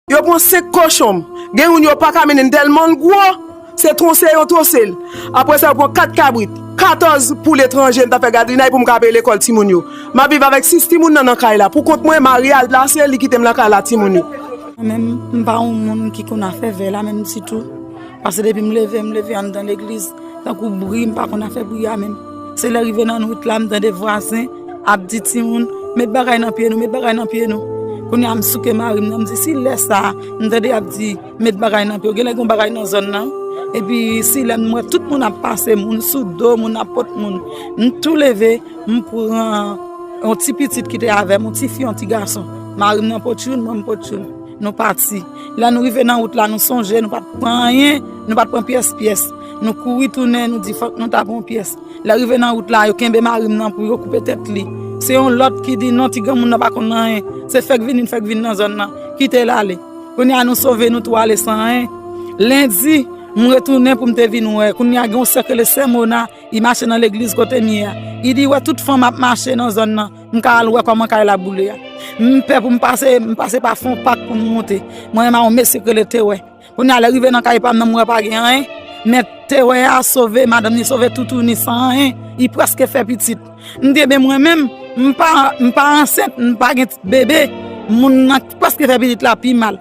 Yo pran 5 kochon m. Gen youn yo pa ka mennen m tèlman l gwo, se twonse yon twonse l. Apre sa yo pran 4 kabrit, 14 poul etranje m ta fè gadrinay pou m ka peye lekòl timoun yo. M ap viv avèk 6 timoun nan nan kay la. Pou kont mwen, mari a al plase, li kite m nan kay la ak timoun yo. Mwen menm, m pa yon moun ki konn afè vè la menm ditou. Pase depi m leve, m leve anndan legliz. Tankou bri, m pa konn afè bri a menm. Se lè rive nan wout la m tande vwazen ap di timoun met bagay nan pye nou, met bagay nan pye nou. Kounye a m souke mari m nan m di si lè sa a m tande y ap di met bagay nan pye w, genlè gen yon bagay nan zòn nan. Epi si lè m wè tout moun ap pase, moun sou do, moun ap pot moun. M tou leve, m pran yon ti pitit ki te avè m, yon ti fi, yon ti gason. Mari m nan pot youn, mwen m pot youn. Nou pati. Lè nou rive nan wout la nou sonje nou pa t pran anyen, nou pa t pran pyès pyès. Nou kouri tounen, nou di fòk nou ta pran pyès. Lè rive nan wout la, yo kenbe mari m nan pou yo koupe tèt li. Se yon lòt ki di non ti granmoun nan pa konn anyen, se fèk vini n fèk vin nan zòn nan, kite l ale. Kounye a nou sove nou tou ale san anyen. Lendi, m retounen pou m te vin wè, kounye a gen yon sè kele sè Mona, li mache nan legliz kote m ye a. Li di wè tout fanm ap mache nan zòn nan, m ka al wè kòman kay la boule a. M pè pou m pase, m pase pa fon pak pou m monte. Mwen menm a yon mesye ki rele Tewè. Kounye a lè rive nan kay pa m nan m wè pa gen anyen. Men tewè a sove madanm ni sove toutou ni san anyen. Li prèske fè pitit. M gen men mwen menm m pa ansent m pa gen bebe moun nan ki prèske fè pitit la pi mal.